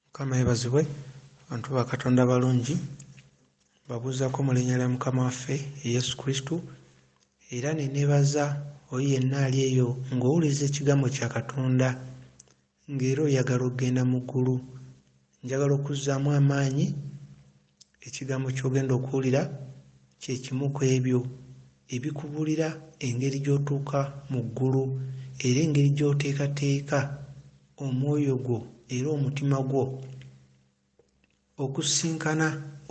mukama yebazibwe bantu ba katonda balungi babuuzako mu linnya lya mukama waffe yesu kristo era nenebaza oyo yenna ali eyo ng'owuliriza ekigambo kya katonda ng'era oyagala okugenda mu ggulu njagala okuzzaamu amaanyi Ekigambo ky'ogenda okuwulira kye kimu ku ebyo ebikubuulira engeri gy'otuuka mu ggulu era engeri gy'oteekateeka omwoyo gwo era omutima gwo okusisinkana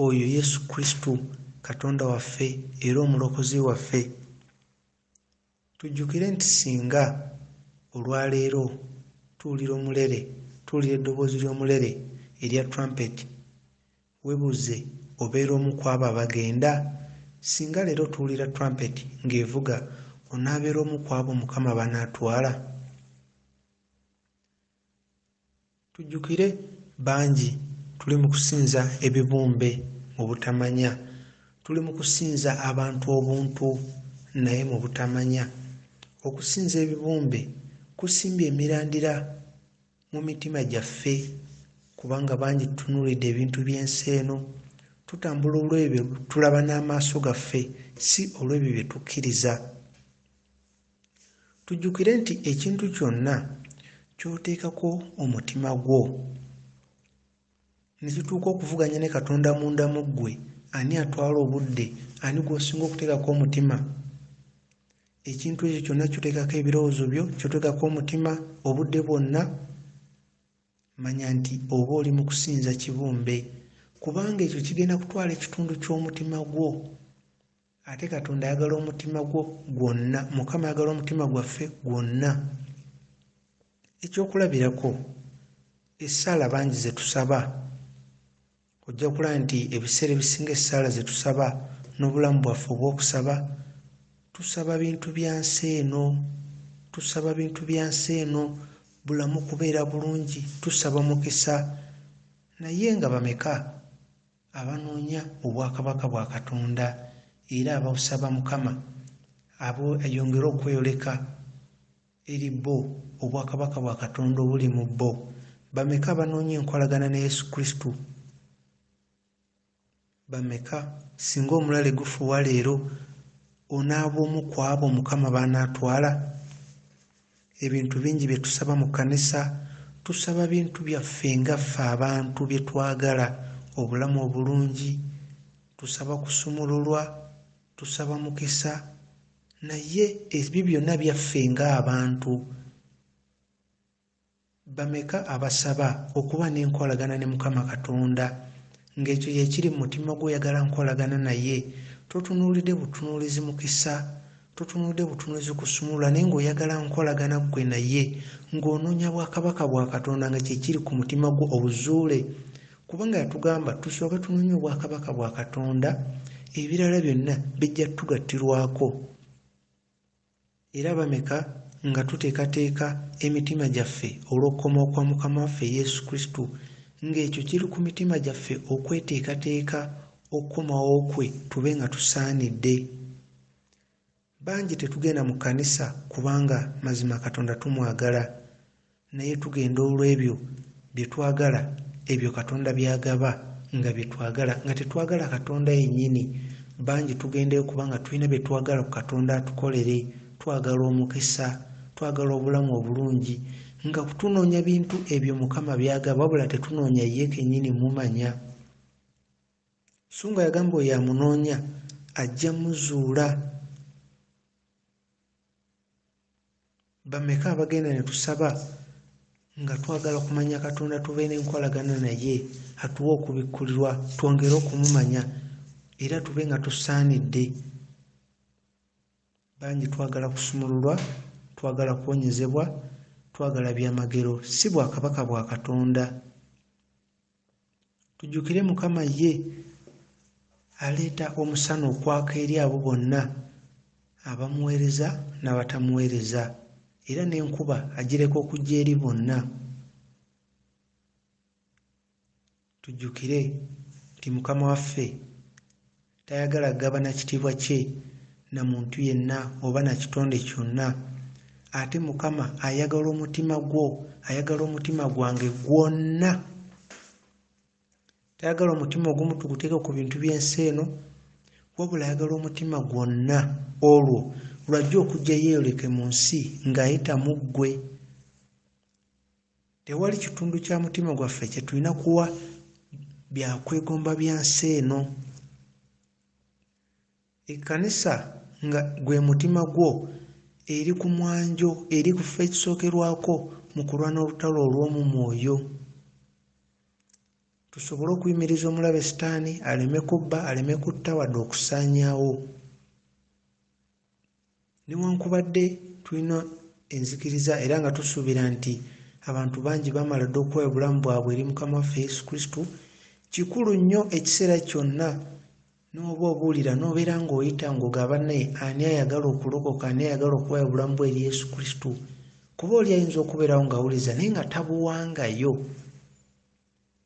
oyo Yesu Kristo, Katonda waffe era Omulokozi waffe. Tujjukire nti singa olwa leero tuwulira omulere, tuwulira eddoboozi ly'omulere erya trumpet, webuuze, obeera omu kw'abo abagenda? Singa leero tuwulira trumpet ng'evuga, onaabeera omu kw'abo Mukama banaatwala? Tujjukire bangi tuli mu kusinza ebibumbe mu butamanya, tuli mu kusinza abantu obuntu naye mu butamanya. Okusinza ebibumbe kusimbye emirandira mu mitima gyaffe kubanga bangi tutunuulidde ebintu by'ensi eno, tutambula olw'ebyo tulaba n'amaaso gaffe si olw'ebyo bye tukkiriza. Tujjukire nti ekintu kyonna ky'oteekako omutima gwo ne kituuka okuvuganya ne Katonda munda mu ggwe, ani atwala obudde? Ani gw'osinga okuteekako omutima? Ekintu ekyo kyonna ky'oteekako ebirowoozo byo, ky'oteekako omutima obudde bwonna, manya nti oba oli mu kusinza kibumbe, kubanga ekyo kigenda kutwala ekitundu ky'omutima gwo. ate katonda ayagala omutima gwo gwonna mukama ayagala omutima gwaffe gwonna ekyokulabirako essaala bangi zetusaba ojja kulaba nti ebiseera ebisinga essaala zetusaba n'obulamu bwaffe obwokusaba tusaba bintu bya nsi eno tusaba bintu bya nsi eno bulamu kubeera bulungi tusaba mukisa naye nga bameka abanoonya obwakabaka bwa Katonda era abawsaba Mukama abo ayongere okweyoleka eri bo obwakabaka bwa Katonda obuli mu bo bameka abanoonya enkolagana ne Yesu Kristo bameka singa omulale gufuwa leero onaaba omu ku abo Mukama b'anaatwala Ebintu bingi bye tusaba mu kkanisa, tusaba bintu byaffe nga ffe abantu bye twagala, obulamu obulungi, tusaba kusumululwa, tusaba mukisa, naye ebyo byonna byaffe ng'abantu. Bameka abasaba okuba n'enkolagana ne Mukama Katonda? Ng'ekyo ye kiri mu mutima gwo oyagala nkolagana naye, totunuulide butunuulizi mukisa, totunuulide butunuulizi kusumulula naye ng'oyagala nkolagana ggwe naye, ng'onoonya bwakabaka bwa Katonda nga kye kiri ku mutima gwo obuzuule. Kubanga yatugamba tusooke tunoonye obwakabaka bwa Katonda, ebirala byonna bijja tugattirwako. Era bameka nga tuteekateeka emitima gyaffe olw'okukomawo kwa Mukama waffe Yesu Kristo, nga ekyo kiri ku mitima gyaffe okweteekateeka okukomawo kwe tube nga tusaanidde. Bangi tetugenda mu kkanisa kubanga mazima Katonda tumwagala. naye tugenda olw'ebyo bye twagala ebyo katonda byagaba nga bye twagala nga tetwagala katonda yennyini bangi tugendayo kubanga tulina bye twagala ku katonda atukolere twagala omukisa twagala obulamu obulungi nga kutunoonya bintu ebyo mukama byagaba wabula tetunoonya ye kennyini mumanya so nga yagamba oyo amunoonya ajja muzuula bameka abagenda ne tusaba nga twagala okumanya katonda tube n'enkolagana naye atuwe okubikkulirwa twongere okumumanya era tube nga tusaanidde bangi twagala kusumululwa twagala kuwonyezebwa twagala byamagero si bwakabaka bwa katonda tujjukire mukama ye aleeta omusana okwaka eri abo bonna abamuweereza n'abatamuweereza era n'enkuba agireka okujja eri bonna tujjukire nti mukama waffe Tayagala kugabana kitiibwa kye na muntu yenna oba na kitonde kyonna. Ate Mukama ayagala omutima gwo, ayagala omutima gwange gwonna. Tayagala omutima ogumu tuguteeke ku bintu by'ensi eno, wabula ayagala omutima gwonna olwo lwajja okujja yeeyoleke mu nsi ng'ayita mu ggwe. Tewali kitundu kya mutima gwaffe kye tulina kuwa bya kwegomba bya nsi eno. Ekkanisa nga gwe mutima gwo eri ku mwanjo, eri ku kifo ekisookerwako mu kulwana olutalo olw'omu mwoyo. Tusobole okuyimiriza omulabe Sitaani aleme kubba, aleme kutta wadde okusaanyaawo. newankubadde tulina enzikiriza era nga tusuubira nti abantu bangi bamala dda okuwa obulamu bwabwe eri mukama waffe yesu kristo kikulu nnyo ekiseera kyonna n'oba obuulira n'obeera ng'oyita ng'ogaba naye ani ayagala okulokoka ani ayagala okuwayo obulamu bwe eri yesu kristo kuba oli ayinza okubeerawo ng'awuliza naye nga tabuwangayo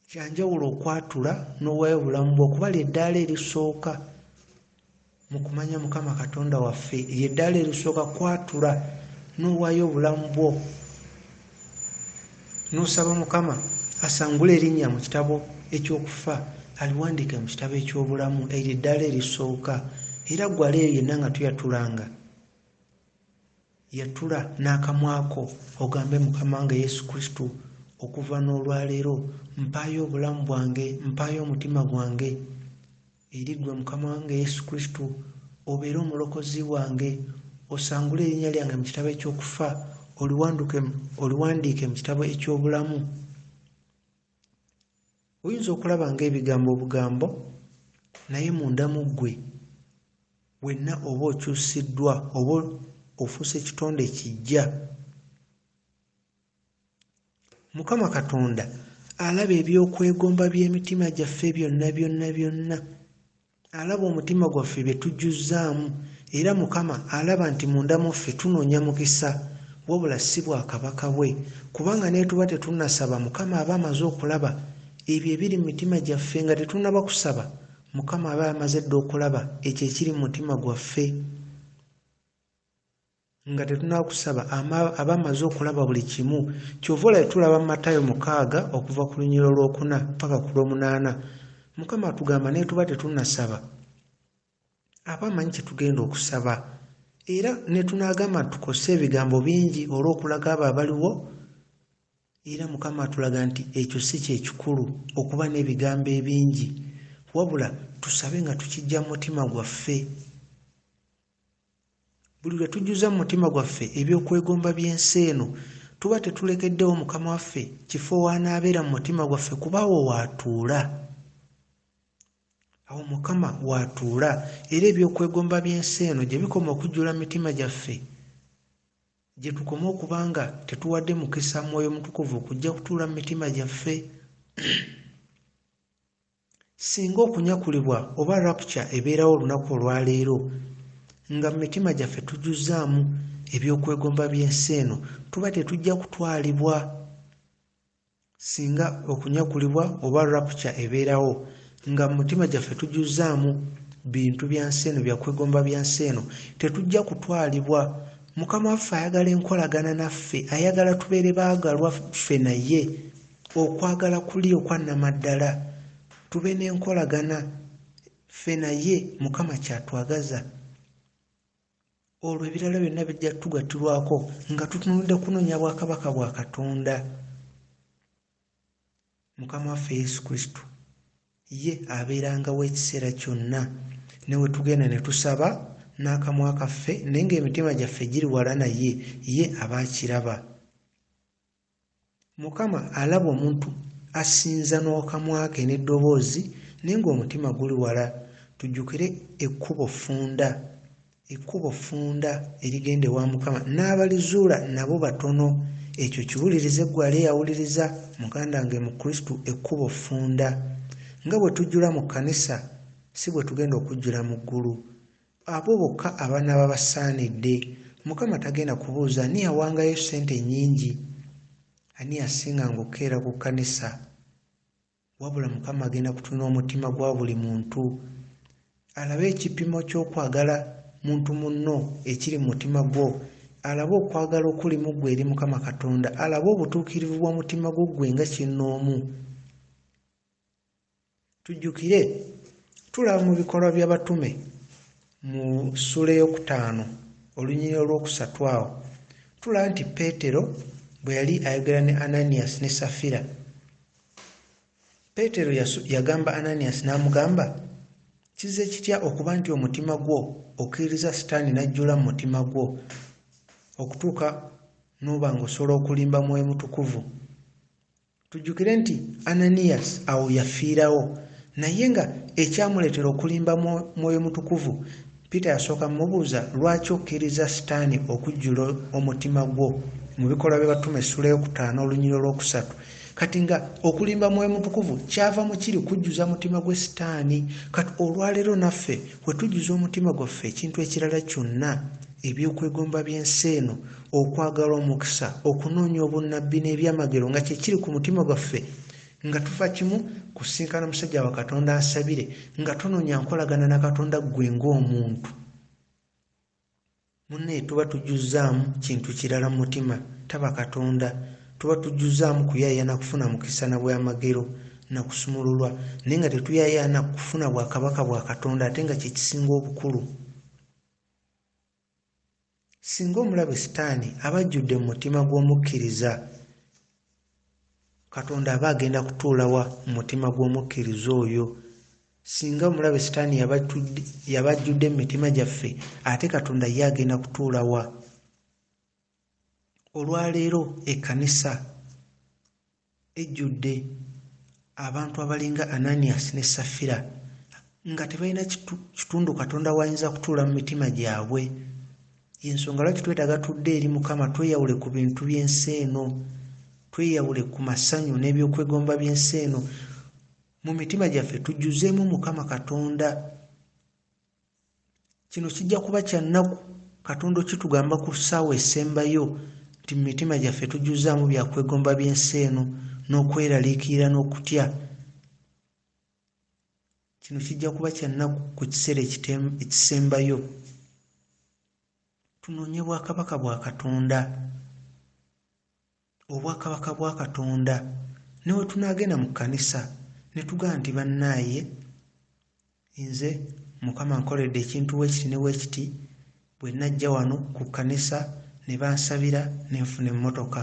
Kya njawulo okwatula n'owaayo obulamu bwo kuba ly'eddaala erisooka mu kumanya Mukama Katonda waffe. Ly'eddaala erisooka kwatula n'owaayo obulamu bwo n'osaba Mukama asangule erinnya mu kitabo eky'okufa aliwandiike mu kitabo eky'obulamu. Eryo eddaala erisooka era gwala eyo yenna nga tuyatulanga. Yatula n'akamwa ko ogambe, Mukama wange Yesu Kristo, okuva n'olwaleero mpaayo obulamu bwange, mpaayo omutima gwange eri ggwe Mukama wange Yesu Kristo, obeere omulokozi wange, osangule erinnya lyange mu kitabo eky'okufa, oliwanduke, oliwandiike mu kitabo eky'obulamu. Oyinza okulaba ng'ebigambo obugambo, naye munda mu ggwe wenna oba okyusiddwa oba ofuuse kitonde kiggya. Mukama Katonda alaba eby'okwegomba by'emitima gyaffe byonna byonna byonna. Alaba omutima gwaffe bye tujjuzzaamu, era Mukama alaba nti munda mu ffe tunoonya mukisa, wabula si bwakabaka bwe, kubanga n'etuba tetunnasaba Mukama aba amaze okulaba ebyo ebiri mu mitima gyaffe nga tetunnaba kusaba, Mukama aba amaze dda okulaba ekyo ekiri mu mutima gwaffe. nga tetunakusaba abamaze okulaba buli kimu kyova olaba tulaba matayo mukaaga okuva ku lunyiro lwokuna paka ku lwomunaana mukama atugamba netuba tetunasaba aba amanyi kyetugenda okusaba era netunagamba tukose ebigambo bingi olwokulaga abo abaliwo era mukama atulaga nti ekyo si kyekikulu okuba n'ebigambo ebingi wabula tusabe nga tukijja mu mutima gwaffe buli lwe tujjuza mu mutima gwaffe eby'okwegomba by'ensi eno tuba tetulekeddewo mukama waffe kifo w'anaabeera mu mutima gwaffe kuba awo waatuula awo mukama waatuula era eby'okwegomba by'ensi eno gye bikoma okujjula mu mitima gyaffe gye tukoma okuba nga tetuwadde mukisa mwoyo mutukuvu okujja kutuula mu mitima gyaffe Singa okunyakulibwa oba rapture ebeerawo olunaku olwa leero, nga mu mitima gyaffe tujjuzzaamu eby'okwegomba by'ensi eno, tuba tetujja kutwalibwa. Singa okunyakulibwa oba rapture ebeerawo, nga mu mitima gyaffe tujjuzzaamu bintu bya nsi eno, bya kwegomba bya nsi eno, tetujja kutwalibwa. Mukama waffe ayagala enkolagana naffe, ayagala tubeere baagalwa ffe naye. Okwagala kuli okwa namaddala tube nenkolagana ffe naye mukama kyatwagaza olwo ebirala byonna bijja tugatirwako nga tutunudde kunonya bwakabaka bwa katonda mukama waffe yesu kristo ye abeerangawo ekiseera kyonna newe tugenda ne tusaba n'akamwa kaffe naye ngaemitima gyaffe giri wala naye ye aba akiraba Mukama alaba omuntu asinza n'okamwa ke n'eddoboozi naye ng'omutima guli wala. Tujjukire ekkubo ffunda, ekkubo ffunda erigenda ewa Mukama. N'abalizuula nabo batono. Ekyo kiwulirize ggwe ali eyawuliriza, muganda wange mu Kristo, ekkubo ffunda. Nga bwe tujjula mu kkanisa, si bwe tugenda okujjula mu ggulu. Abo bokka abanaaba basaanidde. Mukama tagenda kubuuza ani yawangayo ssente ennyingi, ani yasinga ng'okukeera ku kkanisa. Wabula Mukama agenda kutunula omutima gwa buli muntu, alabe ekipimo ky'okwagala muntu munno ekiri mu mutima gwo, alabe okwagala okuli mu ggwe eri Mukama Katonda, alabe obutuukirivu bw'omutima gwo ggwe nga kinnoomu. Tujjukire, tulaba mu bikolwa by'abatume mu ssuula ey'okutaano olunyiri olw'okusatu awo, tulaba nti Peetero bwe yali ayogera ne Ananias ne Safira, Peetero yagamba Ananias n'amugamba, kizze kitya okuba nti omutima gwo okkiririza sitaani n'ajjula mu mutima gwo okutuuka n'oba ng'osobola okulimba mwoyo mutukuvu Tujjukire nti Ananias awo yafiirawo, naye nga ekyamuleetera okulimba Mwoyo Mutukuvu, Peter yasooka mubuuza lwaki okkirizza Sitaani okujjula omutima gwo, mu Bikolwa by'Abatume essuula ey'okutaano olunyiri olw'okusatu. Kati nga okulimba Mwoyo Mutukuvu kyava mu kiri kujjuza mutima gwe Sitaani, kati olwaleero naffe wetujjuza omutima gwaffe ekintu ekirala kyonna, eby'okwegomba by'ensi eno, okwagala omukisa okunoonya obunnabbi n'ebyamagero nga kyekiri ku mutima gwaffe nga tufa kimu kusinkana musajja wa katonda asabire nga tunoonya nkolagana na katonda ggwe ng'omuntu munne tuba tujjuzzaamu kintu kirala mu mutima taba katonda tuba tujjuzzaamu kuyayaana kufuna mukisa na bwamagero na kusumululwa naye nga tetuyayaana kufuna bwakabaka bwa katonda ate nga kyekisinga obukulu singa omulabe sitaani aba ajjudde mu mutima gw'omukkiriza katonda aba agenda kutuulawa mu mutima gw'omukkiriza oyo singa omulabe sitaani yaba ajjudde mu mitima gyaffe ate katonda ye agenda kutuulawa olwaleero ekkanisa ejjudde abantu abalinga ananiyasi ne safira nga tebalina kitundu katonda wayinza kutuula mu mitima gyabwe yensonga lwaki twetaaga tudde eri mukama tweyawule ku bintu by'ensi eno tweyawule ku masanyu n'ebyokwegomba by'ensi eno mu mitima gyaffe tujjuzeemu mukama katonda kino kijja kuba kya nnaku katonda okitugamba ku ssaawa esembayo nti mu mitima gyaffe tujuzaamu byakwegomba by'ensi eno n'okweraliikirira n'okutya kino kijja kuba kya nnaku ku kiseera ekisembayo tunoonye bwakabaka bwa katonda obwakabaka bwa katonda ne bwe tunaagenda mu kkanisa ne tugamba nti bannaaye nze mukama nkoledde ekintu weekiti ne weekiti bwe najja wano ku kkanisa ne bansabira ne nfuna emmotoka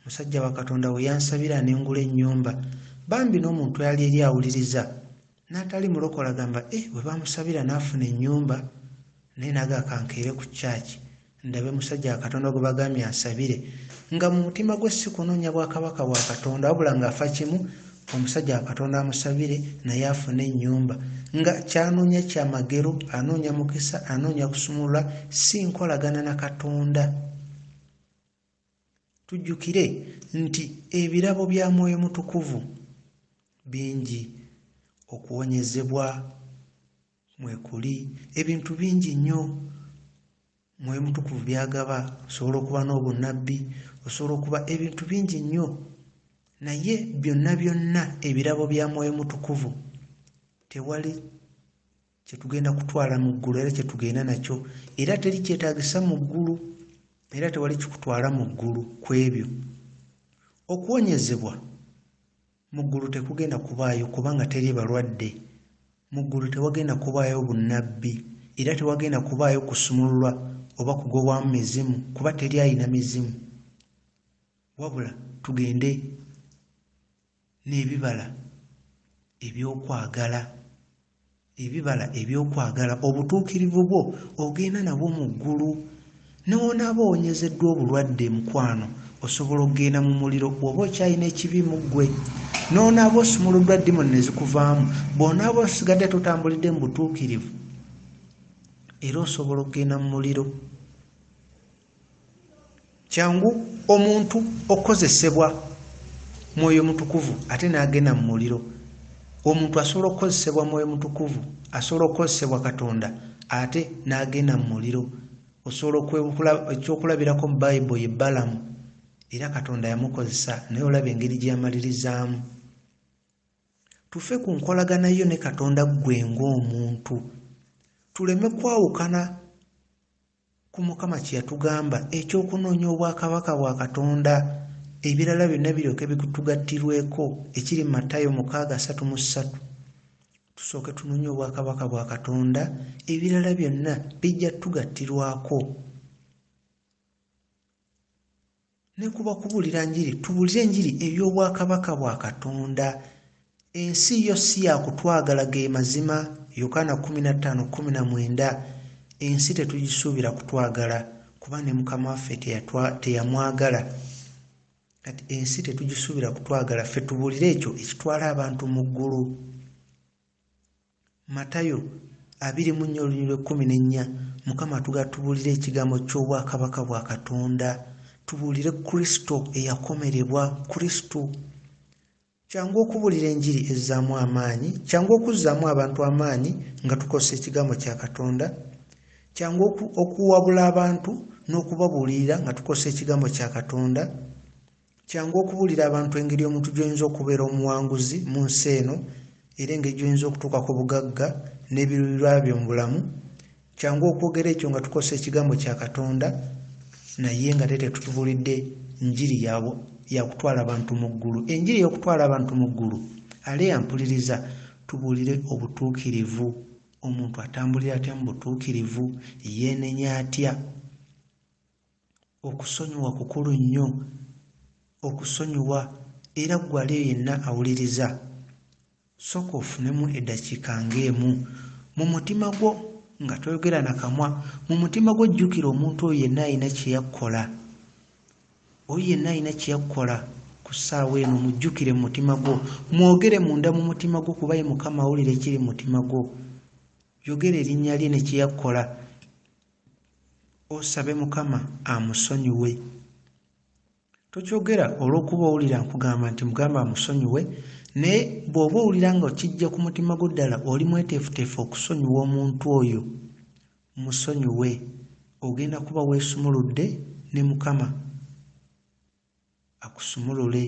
musajja wa katonda we yansabira ne ngula ennyumba bambi n'omuntu yali eri awuliriza N'atali mulokole agamba eh bwe bamusabira n'afuna ennyumba naye naga kankeere ku kyaki ndabe musajja akatonda gwe bagambye ansabire nga mu mutima gwe si kunoonya bwakabaka bwa katonda wabula ng'afa kimu omusajja akatonda amusabire naye afune ennyumba nga kyanoonya kyamagero anoonya mukisa anoonya kusumulula si nkolagana na katonda Tujjukire nti ebirabo bya Mwoyo Mutukuvu bingi, okuwonyezebwa mwekuli, ebintu bingi nnyo Mwoyo Mutukuvu byagaba. Osobola okuba n'obunnabbi, osobola okuba ebintu bingi nnyo, naye byonna byonna ebirabo bya Mwoyo Mutukuvu tewali kyetugenda kutwala mu ggulu era kyetugenda nakyo era teri kyetagisa mu ggulu era tewali kikutwala mu ggulu ku ebyo okuwonyezebwa mu ggulu tekugenda kubaayo kubanga teri balwadde mu ggulu tewagenda kubaayo bunnabbi era tewagenda kubaayo kusumululwa oba kugobwamu mizimu kuba teri alina mizimu wabula tugende n'ebibala eby'okwagala ebibala eby'okwagala obutuukirivu bwo ogenda nabwo mu ggulu ne wonaaba owonyezeddwa obulwadde mukwano osobola okugenda mu muliro oba okyalina ekibi mu ggwe n'onaaba osumuluddwa dimoni ne zikuvaamu bw'onaaba osigadde totambulidde mu butuukirivu era osobola okugenda mu muliro Kyangu omuntu okukozesebwa mwoyo mutukuvu ate n'agenda mu muliro. Omuntu asobola okukozesebwa mwoyo mutukuvu, asobola okukozesebwa Katonda ate n'agenda mu muliro. Osobola okwebukula ekyokulabirako mu Bayibo ye Balamu era Katonda yamukozesa naye olaba engeri gye yamalirizaamu. Tufe ku nkolagana yo ne Katonda ggwe ng'omuntu, tuleme kwawukana ku mukama kye yatugamba eky'okunoonya obwakabaka bwa katonda ebirala byonna biryoke bikutugattirweko ekiri mu matayo mukaaga satu mu ssatu tusooke tunoonye obwakabaka bwa katonda ebirala byonna bijja tugattirwako Ne ku bakubuulira njiri tubuulire enjiri ey'obwakabaka bwa Katonda. Ensi yo si ya kutwagala ge mazima, Yokaana kumi na ttaano kumi na mwenda. Ensi tetugisuubira kutwagala kuba ne Mukama waffe teyamwagala. Kati ensi tetugisuubira kutwagala ffe tubuulire ekyo ekitwala abantu mu ggulu. Matayo abiri mu nnya olunyiri lw'ekkumi n'ennya Mukama atugala tubuulire ekigambo ky'obwakabaka bwa Katonda, tubuulire Kristo eyakomerebwa, Kristo. Kyangu okubuulira enjiri ezzaamu amaanyi, kyangu okuzzaamu abantu amaanyi nga tukozesa ekigambo kya Katonda, kyangu okuwabula abantu n'okubabuulirira nga tukozesa ekigambo kya Katonda. Kyangu okubuulira abantu engeri omuntu gy'oyinza okubeera omuwanguzi mu nsi eno era engeri gy'oyinza okutuuka ku bugagga n'ebiruubirirwa byo mu bulamu. Kyangu okwogera ekyo nga tukozesa ekigambo kya Katonda naye nga te tetutubuulidde njiri ya kutwala bantu mu ggulu. Enjiri y'okutwala abantu mu ggulu ali ampuliriza tubuulire obutuukirivu. Omuntu atambulira atya mu butuukirivu? Yeenenya atya? Okusonyiwa kukulu nnyo. Okusonyiwa era gwali yenna awuliriza sooka ofunemu eddakiika ng'emu mu mutima gwo nga toyogera na kamwa mu mutima gwo jjukira omuntu oyo yenna alina kye yakkola oyo yenna alina kye yakkola ku ssaawa eno mujjukire mu mutima gwo mwogere munda mu mutima gwo kuba ye mukama awulira ekiri mu mutima gwo yogera erinnya lye ne kye yakkola osabe mukama amusonyiwe tokyogera olwokuba owulira nkugamba nti mugamba amusonyiwe naye bwoba owulira nga kijja ku mutima gwo ddala oli mweteefuteefu okusonyiwa omuntu oyo musonyiwe ogenda kuba weesumuludde ne mukama akusumulule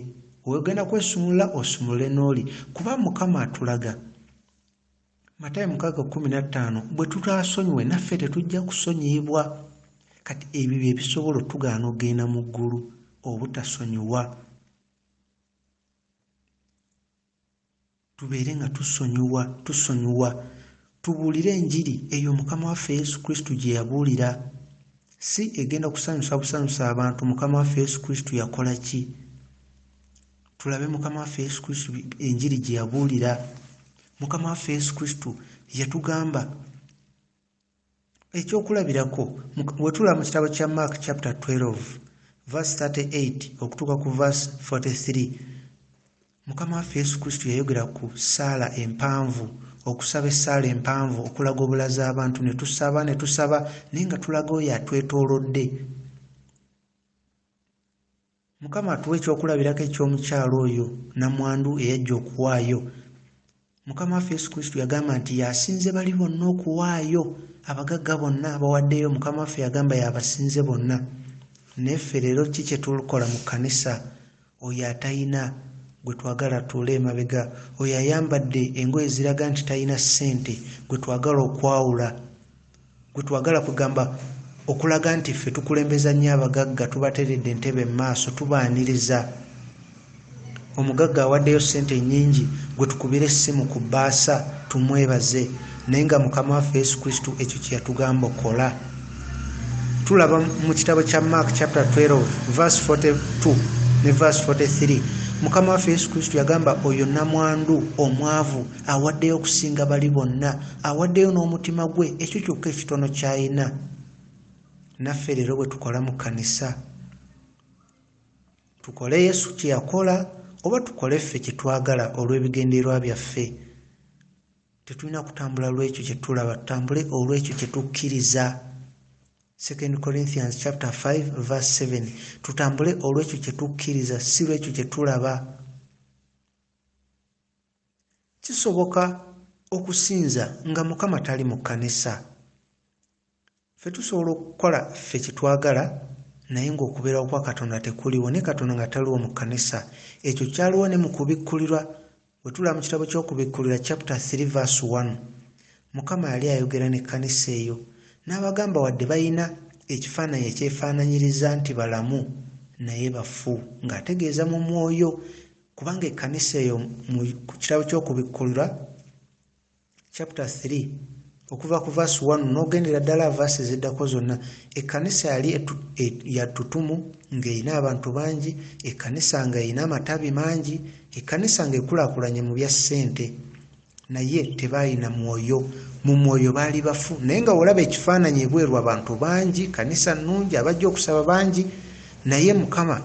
wegenda kwesumulula osumulule n'oli kuba mukama atulaga matayo mukaaga kumi na ttaano bwe tutaasonyiwe naffe tetujja kusonyiyibwa kati ebyo bye bisobola otugaana okugenda mu ggulu obutasonyiwa tubeere nga tusonyiwa tusonyiwa tubuulire enjiri eyo mukama waffe yesu kristo gye yabuulira si egenda kusanyusa busanyusa abantu mukama waffe yesu kristo yakola ki tulabe mukama waffe yesu kristo enjiri gye yabuulira mukama waffe yesu kristo yatugamba ekyokulabirako wetulaba mu kitabo kya mark chapter 12 verse 38 okutuuka ku verse 43 mukama waffe yesu kristo yayogera ku saala empanvu okusaba essaala empanvu okulaga obulaza abantu ne tusaba ne tusaba naye nga tulaga oyo atwetoolodde Mukama atuwe ekyokulabirako eky'omukyala oyo namwandu eyajja okuwaayo. Mukama waffe Yesu Kristo yagamba nti yasinze bali bonna okuwaayo. Abagagga bonna abawaddeyo Mukama waffe yagamba yabasinze bonna. Neffe leero ki kyetulkola mu kkanisa? Oyo atayina gwe twagala atuule emabega, oyo ayambadde engoye eziraga nti tayina ssente gwe twagala okwawula. gwe twagala kwegamba okulaga nti ffe tukulembeza nnyo abagagga tubateredde entebe mu maaso tubaaniriza omugagga awaddeyo ssente ennyingi gwe tukubira essimu ku bbaasa tumwebaze naye nga mukama waffe yesu kristu ekyo kye yatugamba okola tulaba mu kitabo kya mark chapter 12 vers 42 ne vers 43 mukama waffe yesu kristu yagamba oyo namwandu omwavu awaddeyo okusinga bali bonna awaddeyo n'omutima gwe ekyo kyokka ekitono ky'alina naffe leero bwe tukola mu kkanisa tukole yesu kye yakola oba tukole ffe kye twagala olw'ebigendererwa byaffe tetulina kutambula lw'ekyo kye tulaba tutambule olw'ekyo kye tukkiriza 2 corinthians chapter 5 verse 7 tutambule olw'ekyo kye tukkiriza si lw'ekyo kye tulaba Kisoboka okusinza nga mukama tali mu kanisa? Fe tusobola okukola fe kyetwagala naye nga okuberawo kwa katonda tekuliwo ne katonda nga taliwo mu kanisa ekyo kyaliwo ne mukubikkulirwa wetulaba mu kitabo kyokubikkulira chapter 3 verse 1 mukama yali ayogera ne kanisa eyo n'abagamba wadde balina ekifaananyi ekyefaananyiriza nti balamu naye bafu ng'ategeeza mu mwoyo kubanga ekkanisa eyo mu kitabo ky'okubikkulirwa chapter 3 okuva ku vaasi 1 n'ogendera ddala vaasi ziddako zonna ekkanisa yali e, yattutumu ng'erina abantu bangi ekkanisa nga erina amatabi mangi ekkanisa ng'ekulakulanye mu bya ssente naye tebalina mwoyo mu mwoyo baali bafu naye nga olaba ekifaananyi ebweru abantu bangi kanisa nnungi abajja okusaba bangi naye mukama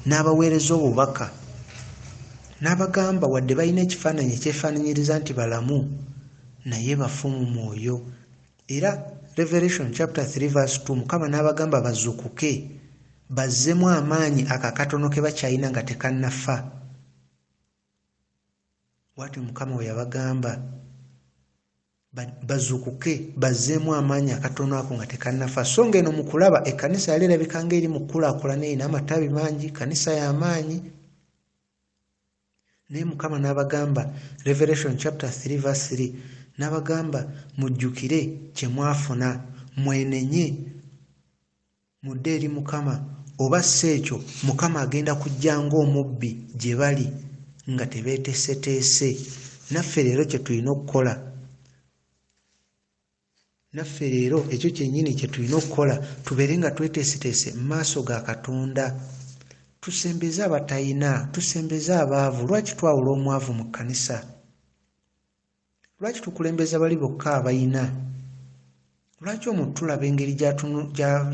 n'abaweereza obubaka n'abagamba wadde balina ekifaananyi ekyefaananyiriza nti balamu naye bafu mu mwoyo era revelation chapter 3 verse 2 mukama n'abagamba bazukuke bazzemu amaanyi ako akatono ke bakyalina nga tekannafa bwatyo mukama we yabagamba bazukuke bazzeemu amaanyi akatono ako nga tekannafa so nga eno mu kulaba ekkanisa yali erabika nga eri mu kukulaakulana erina amatabi mangi kanisa y'amaanyi naye mukama n'abagamba revelation chapter 3 verse 3 n'abagamba mujjukire kye mwafuna mwenenye Mudde eri Mukama, oba si ekyo Mukama agenda kujja ng'omubbi gye bali nga tebeeteseteese. Naffe leero kye tulina okukola naffe leero ekyo kyennyini kye tulina okukola tubeere nga tweteeseteese mu maaso ga Katonda tusembeze abatayina tusembeze abaavu lwaki twawula omwavu mu kkanisa Lwaki tukulembeza bali bokka abalina? Lwaki omuntu tulaba engeri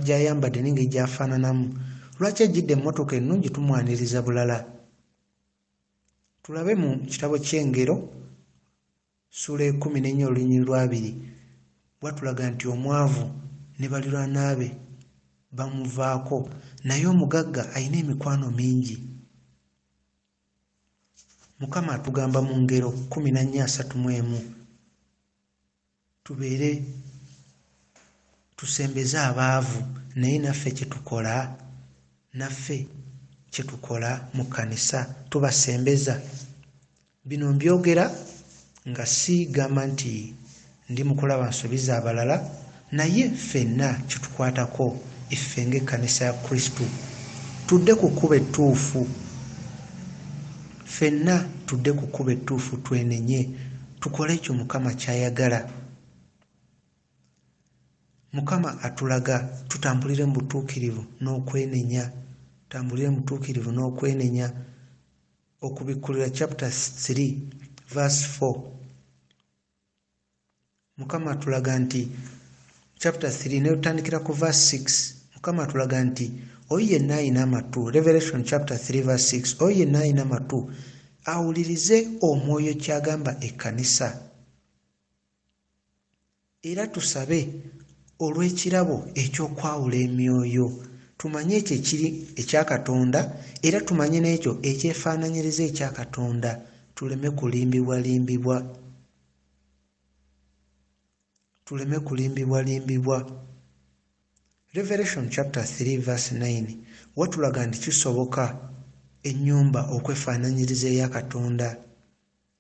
gy'ayambadde n'engeri gy'afaananamu? Lwaki ajjidde emmotoka ennungi tumwaniriza bulala? Tulabe mu kitabo ky'Engero ssuula ekumi n'ennya olunyiriri lw'abiri bwatulaga nti omwavu ne balirwana be bamuvaako naye omugagga alina emikwano mingi. mukama atugamba mu ngero kumi na nnya asatu mu emu tubeere tusembeze abaavu naye naffe kyetukola naffe kyetukola mu kkanisa tubasembeza bino mbyogera nga siigamba nti Ndi mu kulaba nsobi za balala, naye ffenna kitukwatako. Iffe ng'Ekkanisa ya Kristo, tudde ku kkubo ettuufu. Ffenna tudde ku kkubo ettuufu, twenenye, tukole ekyo Mukama ky'ayagala. Mukama atulaga tutambulire mu butuukirivu n'okwenenya, tambulire mu butuukirivu n'okwenenya. Okubikkulirwa chapter 3 verse 4. mukama atulaga nti chapter 3 naye tutandikira ku verse 6 mukama atulaga nti oyo yenna ayina amatu revelation chapter 3 verse 6 oyo yenna ayina amatu awulirize omwoyo kyagamba ekkanisa era tusabe olw'ekirabo eky'okwawula emyoyo tumanye ekyo ekiri ekya katonda era tumanye n'ekyo ekyefaananyiriza ekya katonda tuleme kulimbibwalimbibwa tuleme kulimbibwalimbibwa revelation chapter 3 verse 9 watulaga nti kisoboka ennyumba okwefaananyiriza eya katonda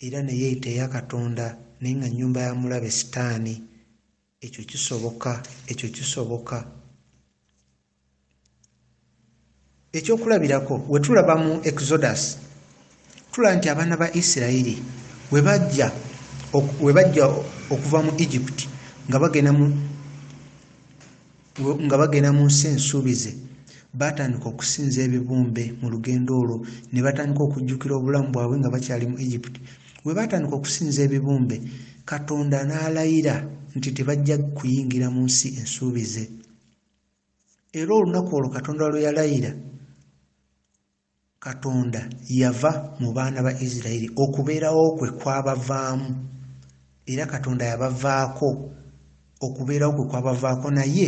era neyeeyita eya katonda naye nga nnyumba ya mulabe sitaani Ekyo kisoboka, ekyo kisoboka. Ekyokulabirako, we tulaba mu Exodus, tulaba nti abaana ba Isirayiri we bajja okuva mu Egypt nga bagenda mu nga bagenda mu nsi ensuubize baatandika okusinza ebibumbe mu lugendo olwo ne batandika okujjukira obulamu bwabwe nga bakyali mu egypt we baatandika okusinza ebibumbe katonda n'alayira nti tebajja kuyingira mu nsi ensuubize era olunaku olwo katonda lwe yalayira Katonda yava mu baana ba Isiraeri, okubeerawo kwe kwabavaamu, era Katonda yabavaako, okubeerawo kwe kwabavaako, naye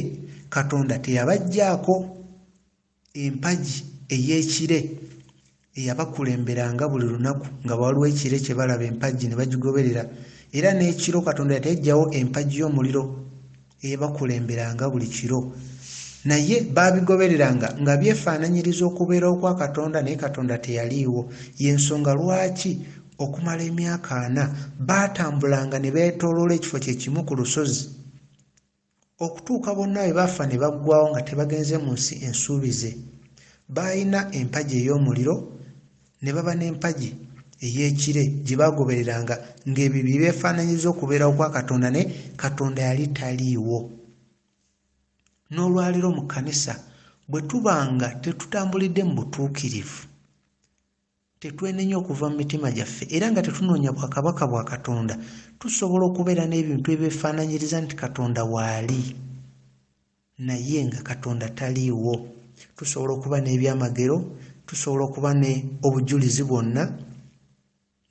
Katonda teyabaggyaako empagi ey'ekire eyabakulemberanga buli lunaku, nga waliwo ekire kye balaba, empagi ne bagigoberera, era n'ekiro Katonda teyaggyawo empagi y'omuliro. eyabakulemberanga buli kiro naye baabigobereranga nga byefaananyiriza okubeerawo kwa katonda naye katonda teyaliiwo y'ensonga lwaki okumala emyaka ana baatambulanga ne beetooloola ekifo kye kimu ku lusozi okutuuka bonna bwe bafa ne baggwawo nga tebagenze mu nsi ensuubize baalina empagi ey'omuliro ne baba n'empagi ey'ekire gye baagobereranga ng'ebyo bye byefaananyiza okubeerawo kwa katonda naye katonda yali taliiwo n'olwaleero mu kkanisa bwe tuba nga tetutambulidde mu butuukirivu tetwenenya okuva mu mitima gyaffe era nga tetunoonya bwakabaka bwa katonda tusobola okubeera n'ebintu ebyefaananyiriza nti katonda waali naye nga katonda taliiwo tusobola okuba n'ebyamagero tusobola okuba ne obujulizi bwonna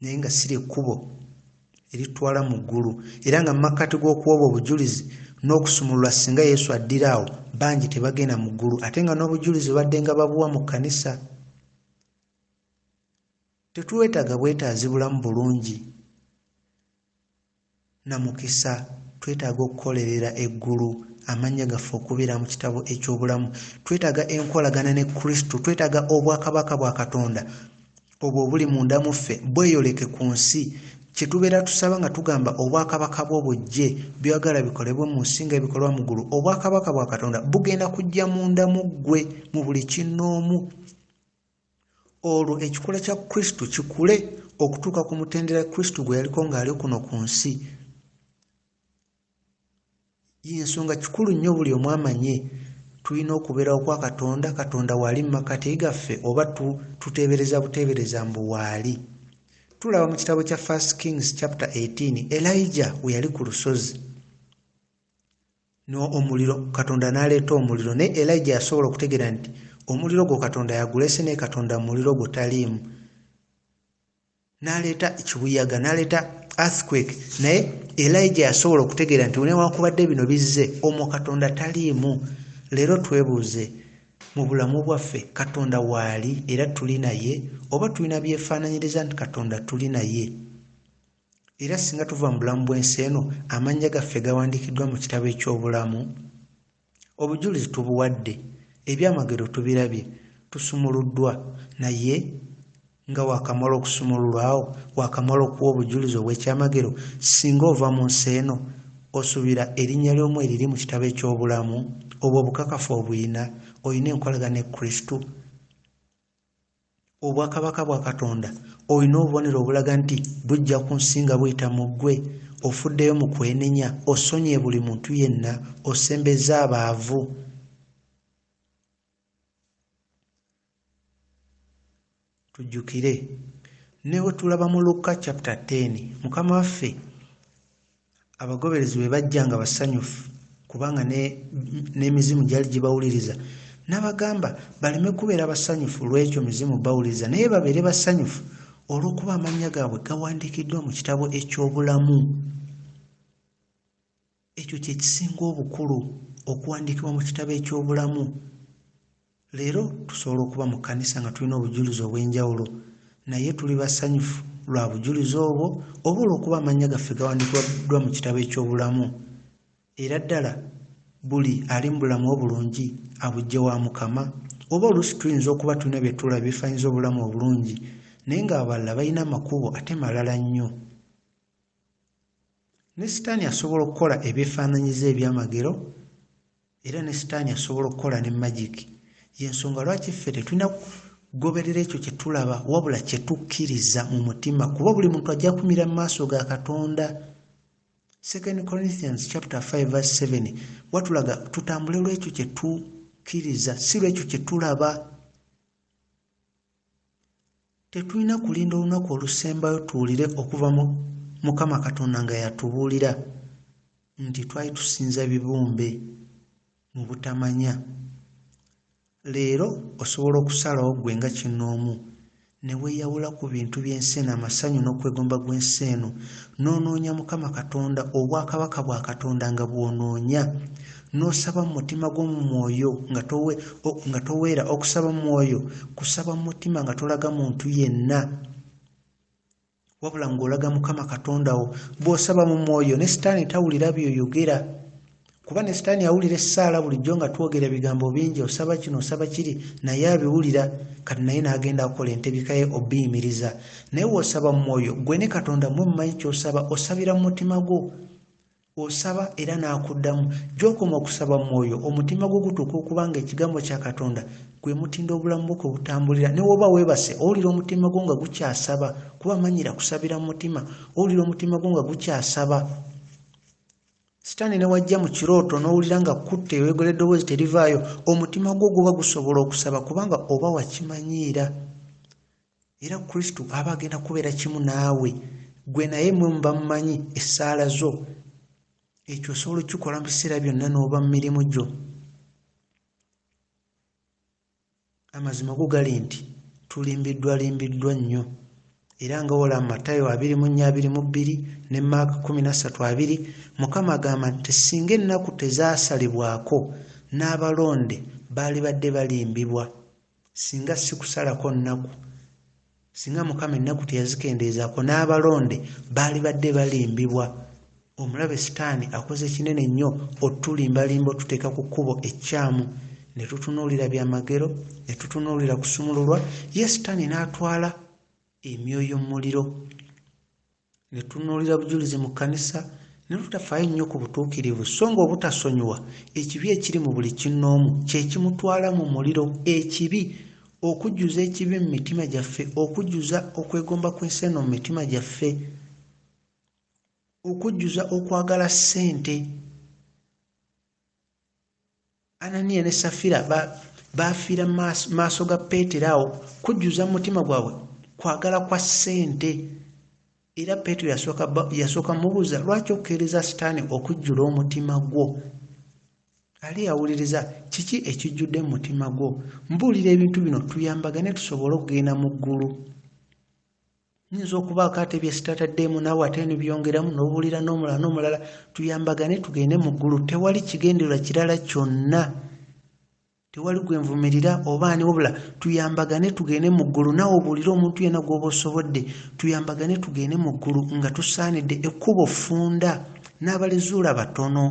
naye nga siri ekkubo eritwala mu ggulu era nga mumakkati g'okuwoba obujulizi n'okusumulula singa yesu addira awo bangi tebagenda mu ggulu ate nga n'obujulizi badde nga babuwa mu kkanisa tetulwetaaga bwetaazi bulamu bulungi na mukisa. Twetaaga okukolerera eggulu, amannya gaffe okubeera mu kitabo eky'obulamu. Twetaaga enkolagana ne Kristo. Twetaaga obwakabaka bwa Katonda obwo obuli munda mu ffe bweyoleke ku nsi. Kye tubeera tusaba nga tugamba obwakabaka bwo bujje, by'oyagala bikolebwe mu nsi nga ebikolwa mu ggulu, obwakabaka bwa Katonda bugenda kujja munda mu ggwe mu buli kinnoomu. olwo ekikula kya kristo kikule okutuuka ku mutendera kristo gwe yaliko ng'ali kuno ku nsi yensonga kikulu nnyo buli omu amanye tulina okubeerawo kwa katonda katonda waali mu makati gaffe oba tuteebereza buteebereza mbu waali tulaba mu kitabo kya first kings chapter 18 elija we yali ku lusozi n'omuliro katonda n'aleeta omuliro naye elija yasobola okutegeera nti omuliro gwo katonda yagulese naye katonda muliro gwo taliimu n'aleeta ekibuyaga n'aleeta earthquake naye elija yasobola okutegeera nti newankubadde bino bizze omwo katonda taliimu leero twebuuze mu bulamu bwaffe katonda waali era tuli naye oba tulina byefaananyiriza nti katonda tuli naye Era singa tuva mu bulamu bw'ensi eno, amannya gaffe gawandiikiddwa mu kitabo eky'obulamu. Obujulizi tubuwadde, ebyamagero tubirabye, tusumuluddwa. Naye, nga waakamala okusumululwa awo, waakamala okuwa obujulizi obw'ekyamagero, singa ova mu nsi eno, osuubira erinnya lyo mweriri mu kitabo eky'obulamu? Obwo obukakafu obulina. Olina enkolagana ne Kristo. obwakabaka bwa katonda olina obubonero obulaga nti bujja ku nsi nga buyita mu ggwe ofuddeyo mu kwenenya osonyiye buli muntu yenna osembeza abaavu tujjukire ne bwe tulaba mu lukka chapta 10 mukama waffe abagoberezi bwe bajja nga basanyufu kubanga n'emizimu ne gyali gibawuliriza n'abagamba baleme kubeera basanyufu lw'ekyo mizimu bawuliriza naye babeere basanyufu olw'okuba amannya gaabwe gawandiikiddwa mu kitabo eky'obulamu ekyo kye kisinga obukulu okuwandiikibwa mu kitabo eky'obulamu Leero tusobola okuba mu kkanisa nga tulina obujulizi obw'enjawulo, naye tuli basanyufu lwa bujulizi obwo oba olw'okuba amannya gaffe gawandikiddwa mu kitabo eky'obulamu? Era ddala buli ali mu bulamu obulungi abujje wa Mukama? Oba oluusi tuyinza okuba tulina bye tulaba ebifaanyiza obulamu obulungi, naye ng'abalala balina amakubo ate malala nnyo. Ne Sitaani asobola okukola ebyefaananyiza eby'amagero, era ne Sitaani asobola okukola ne magiki. Y'ensonga lwaki ffe tetulina kugoberera ekyo kye tulaba, wabula kye tukkiriza mu mutima, kuba buli muntu ajja kumira mu maaso ga Katonda. 2 Corinthians chapter 5 verse 7 watulaga tutambule lw'ekyo kye tukkiriza, si lw'ekyo kye tulaba. Tetulina kulinda olunaku olusembayo tuwulire okuva mu Mukama Katonda nga yatubuulira nti twali tusinza bibumbe mu butamanya. Leero osobola okusalawo ggwe nga kinnoomu ne weeyawula ku bintu by'ensi eno, amasanyu n'okwegomba gw'ensi eno, n'onoonya Mukama Katonda, obwakabaka bwa Katonda nga bw'onoonya. N'osaba mu mutima gwo mu mwoyo nga toweera. Okusaba mu mwoyo kusaba mu mutima nga tolaga muntu yenna wabula ng'olaga Mukama Katonda wo. Bw'osaba mu mwoyo ne sitaani tawulira by'oyogera kuba ne sitaani awulira essaala bulijjo nga twogera ebigambo bingi osaba kino osaba kiri naye abiwulira kati naye n'agenda akola entebika ye obiyimiriza naye w'osaba mu mwoyo gwe ne Katonda mwe mumanyi ky'osaba osabira mu mutima gwo osaba era n'akuddamu gy'okoma okusaba mu mwoyo omutima gwo gutuuka okuba nga ekigambo kya katonda gwe mutindo obulamu bwo kwe butambulira ne woba weebase owulira omutima gwo nga gukyasaba kuba manyira kusabira mu mutima owulira omutima gwo nga gukyasaba sitaani ne wajja mu kirooto n'owulira nga kutte eyoyogera eddoboozi terivaayo omutima gwo guba gusobola okusaba kubanga oba wakimanyiira era kristo aba agenda kubeera kimu naawe gwe naye mwe muba mumanyi essaala zo ekyo osobola okukikola mu biseera byonna n'oba mu mirimu gyo amazima go gali nti tulimbiddwa limbiddwa nnyo era nga wola mu matayo abiri mu nnya abiri mu bbiri ne maaka kumi na ssatu abiri mukama agamba nti singa ennaku tezaasalibwako n'abalonde baali badde balimbibwa singa si kusalako nnaku singa mukama ennaku teyazikendeezaako n'abalonde baali badde balimbibwa omulabe sitaani akoze kinene nnyo otulimbalimba otuteeka ku kkubo ekkyamu ne tutunuulira byamagero ne tutunuulira kusumululwa ye sitaani n'atwala emyoyo mu muliro ne tunuulira bujulizi mu kkanisa ne tutafaayo nnyo ku butuukirivu so ng'obutasonyiwa ekibi ekiri mu buli kinnoomu kye kimutwala mu muliro ekibi okujjuza ekibi mu mitima gyaffe okujjuza okwegomba kw'ensi eno mu mitima gyaffe okujjuza okwagala ssente ananiya ne safira bafiira maaso ga peetero awo kujjuza mu mutima gwabwe kwagala kwa ssente era peetero yasooka mubuuza lwaki okukeereza sitaani okujjula omutima gwo ali yawuliriza kiki ekijjudde mu mutima gwo mbuulira ebintu bino tuyambagane tusobole okugenda mu ggulu nyinza okubaako ate byesitataddeemu naawe ate eno byongeramu nobuulira n'omulala n'omulala tuyambagane tugende mu ggulu tewali kigendererwa kirala kyonna tewali gwe nvumirira oba ani wabula tuyambagane tugende mu ggulu naawe obuulire omuntu yena gwoba osobodde tuyambagane tugende mu ggulu nga tusaanidde ekkubo funda n'abalizuula batono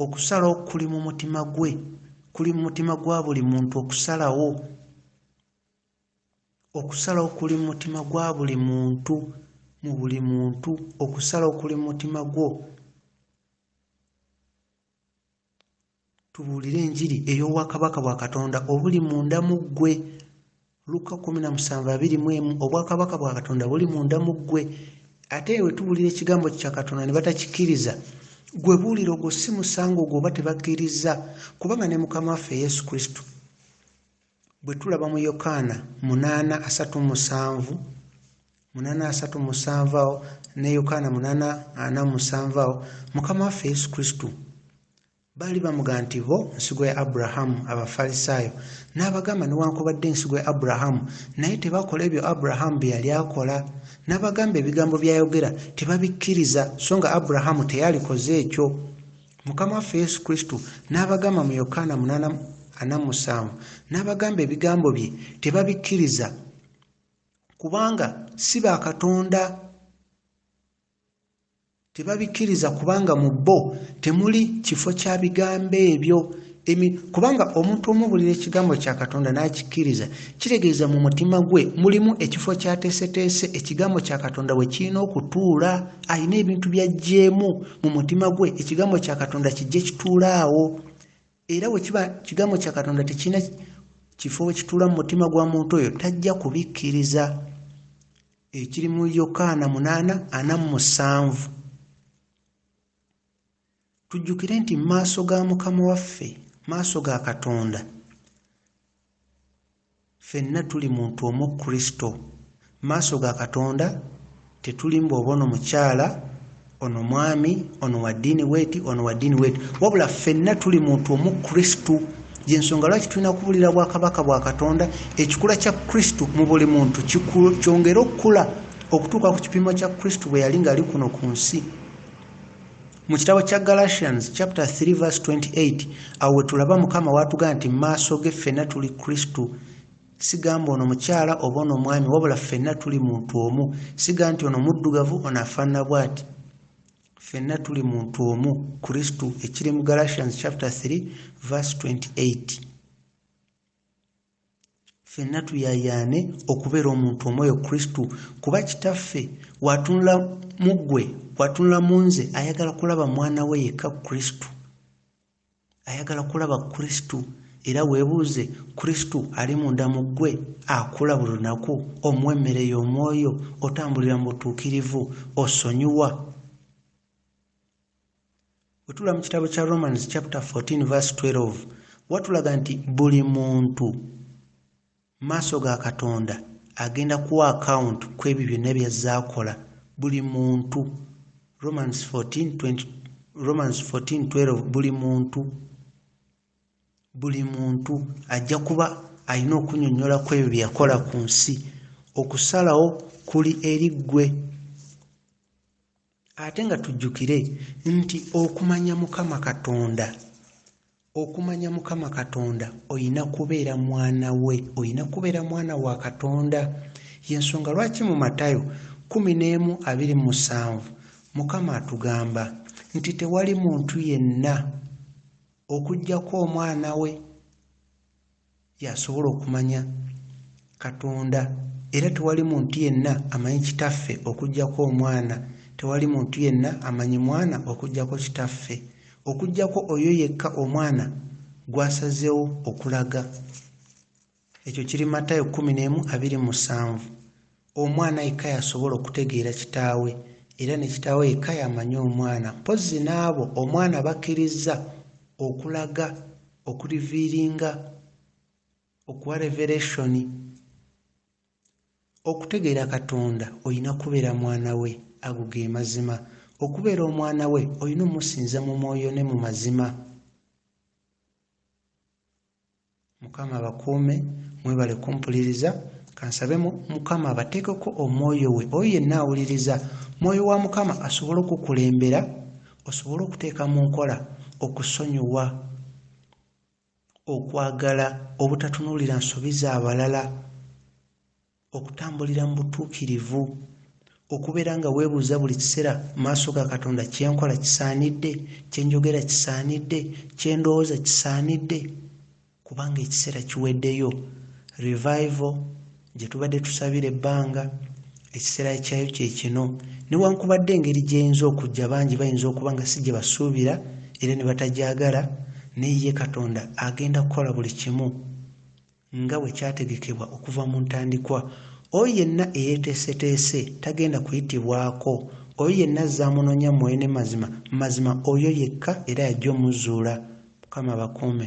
okusalawo kuli mu mutima gwe kuli mu mutima gwa buli muntu okusalawo Okusalawo kuli mu mutima gwa buli muntu, mu buli muntu. Okusalawo kuli mu mutima gwo. Tubuulire enjiri ey'obwakabaka bwa Katonda obuli munda mu ggwe. Lukka 17:21 Obwakabaka bwa Katonda buli munda mu ggwe. Ate we tubuulira ekigambo kya Katonda ne batakikkiriza, gwe buulira ogwo si musango gwo oba tebakkirizza, kubanga ne Mukama waffe Yesu Kristo Bwe tulaba mu Yokaana munaana asatu mu musanvu munaana asatu mu musanvu awo ne Yokaana munaana ana mu musanvu awo mukama waffe Yesu Kristo baali bamuga nti bo nsigo ya Aburahamu abafalisaayo n'abagamba newankubadde ensigo ya Aburahamu naye tebakola ebyo Aburahamu bye yali akola n'abagamba ebigambo by'ayogera tebabikkiriza so nga Aburahamu teyalikoze ekyo mukama waffe yesu kristo n'abagamba mu yokaana 8:47 n'abagamba ebigambo bye tebabikkiriza kubanga si ba katonda tebabikkiriza kubanga mu bo temuli kifo kya bigambo ebyo emi kubanga omuntu omubulira ekigambo kya katonda n'akikkiriza kitegeeza mu mutima gwe mulimu ekifo kyateeseteese ekigambo kya katonda we kirina okutuula alina ebintu byajjeemu mu mutima gwe ekigambo kya katonda kijje kituula awo era we kiba kigambo kya katonda tekirina kifo we kituula mu mutima gwa muntu oyo tajja kubikkiriza ekiri mu yokaana munaana ana mu musanvu Tujjukire nti mu maaso ga Mukama waffe, maaso ga Katonda, fenna tuli muntu omu Kristo. Mu maaso ga Katonda tetuli mbu oba ono mukyala, ono mwami, ono wa ddiini bweti, ono wa ddiini bweti, wabula fenna tuli muntu omu Kristo. Gyensonga lwaki tulina kubulira bwakabaka bwa Katonda, ekikula kya Kristo mu buli muntu kyongere okukula okutuuka ku kipimo kya Kristo bwe yali ng'ali kuno ku nsi. mu kitabo kya galatians chapter 3 verse 28 awo wetulaba mukama watugaa nti maaso ge ffenna tuli kristo sigamba ono mukyala oba ono omwami wabula ffenna tuli muntu omu siga nti ono muddugavu ono afaanana bwati ffenna tuli muntu omu kristo ekiri mu galatians chapter 3 verse 28 Ffenna tuyaayaane okubeera omuntu omu oyo Kristo, kuba Kitaffe w'atunula mu ggwe, w'atunula mu nze, ayagala kulaba mwana we yekka Kristo. Ayagala kulaba Kristo. Era weebuuze, Kristo ali munda mu ggwe? Akula buli lunaku? Omuwa emmere y'omwoyo? Otambulira mu butuukirivu? Osonyiwa? wetula mu kitabo kya romans chapter 14 verse 12 watulaga nti buli muntu maaso ga katonda agenda kuwa akawunti ku ebyo byonna byazze akola buli muntu romans 14:12 buli muntu buli muntu ajja kuba alina okunyonyola ku ebyo byeyakola ku nsi okusalawo kuli eri ggwe Ate nga tujjukire nti okumanya Mukama Katonda, okumanya Mukama Katonda olina kubeera mwana we, olina kubeera mwana wa Katonda. Y'ensonga lwaki mu Matayo kkumi n'emu abiri mu musanvu Mukama atugamba nti tewali muntu yenna okuggyako omwana we y'asobola okumanya katonda era tewali muntu yenna amanyi kitaffe okugyako omwana tewali muntu yenna amanyi mwana okugyako kitaffe okugyako oyo yekka omwana gwasazewo okulaga ekyo kiri matayo 1 musanvu Omwana yekka y'asobola okutegeera kitaawe, era ne kitaawe yekka y'amanyi omwana. Mpozzi n'abo omwana bakkirizza okulaga, okuliviiringa, okuwa revelation. Okutegeera Katonda olina kubeera mwana we. Ago ge mazima. Okubeera omwana we olina omusinza mu mwoyo ne mu mazima. Mukama abakuume mwebale kumpuliriza kansabe mukama abateekeko omwoyo we oyo yenna awuliriza mwoyo wa mukama asobole okukulembera osobole okuteeka mu nkola okusonyiwa okwagala obutatunuulira nsobi z'abalala okutambulira mu butuukirivu okubeera nga weebuuza buli kiseera maaso ga katonda kyenkola kisaanidde kyenjogera kisaanidde kyendowooza kisaanidde kubanga ekiseera kiweddeyo revival gye tubadde tusabira ebbanga ekiseera kyayo kyekino newankubadde engeri gyeyinza okujja bangi bayinza okuba nga si gye basuubira era ne batagyagala naye ye katonda agenda kukola buli kimu nga bwe kyategekebwa okuva mu ntandikwa. Oyo yenna eyeeteeseteese tagenda kuyitibwako. Oyo yenna azze amunoonya mu mwoyo ne mazima, mazima oyo yekka era y'ajja omuzzuula. Mukama abakuume.